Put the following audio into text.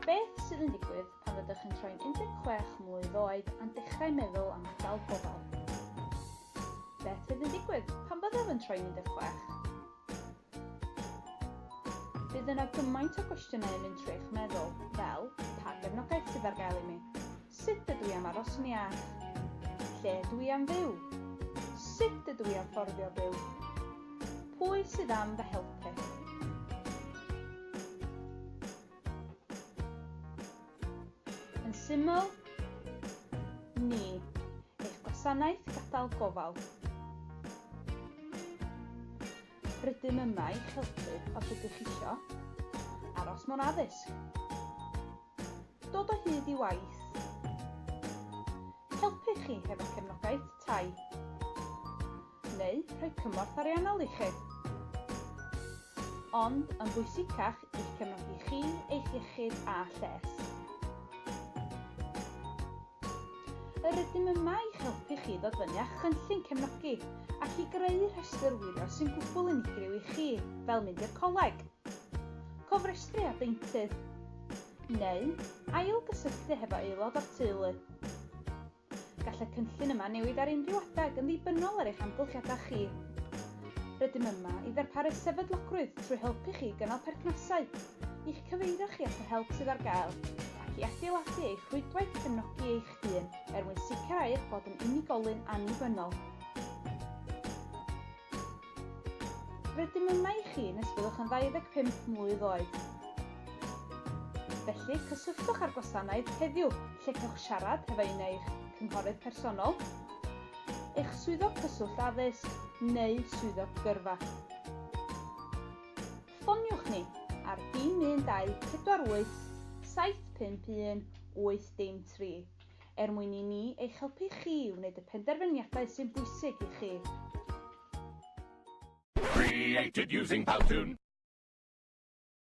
Beth sydd yn digwydd pan fyddwch yn troi'n 16 mlwydd oed a'n dechrau meddwl am adael gofal? Beth fydd yn digwydd pan byddaf yn troi'n 16? Bydd yna gymaint o gwestiynau yn mynd trwy eich meddwl, fel, pa gefnogaeth sydd ar gael i mi? Sut ydw i am aros'n iach? Lle ydw i am fyw? Sut ydw i am fforddio byw? Pwy sydd am fy helpu? Yn syml, ni, eich gwasanaeth gadael gofal. Rydym yma i'ch helpu os ydych isio aros mewn addysg, dod o hyd i waith, helpu chi hefo cefnogaeth tai, neu rhoi cymorth ariannol i chi. Ond yn bwysicach i'ch cefnogi chi, eich iechyd a lles. Yr ydym yma i'ch helpu chi ddod fyny â chynllun cefnogi ac i greu rhestr wylio sy'n gwbl unigryw i chi, fel mynd i'r coleg, cofrestru â deintydd, neu ail-gysylltu hefo aelod o'r teulu. Gall y cynllun yma newid ar unrhyw adeg yn ddibynnol ar eich amgylchiadau chi. Rydym yma i ddarparu sefydlogrwydd trwy helpu chi i gynnal perthnasau i'ch cyfeirio chi at yr help sydd ar gael ac i adeiladu eich rhwydwaith cefnogi eich hun er mwyn sicrhau eich bod yn unigolyn annibynnol. Rydym yma i chi nes byddwch yn 25 mlwydd oed. Felly, cysylltwch â'r gwasanaeth heddiw lle cewch siarad hefo un eich cynghorydd personol, eich swyddog cyswllt addysg neu swyddog gyrfa. Ffoniwch ni ar dim 1248 751 8 dim 3 er mwyn i ni eich helpu chi i wneud y penderfyniadau sy'n bwysig i chi. Created using Powtoon!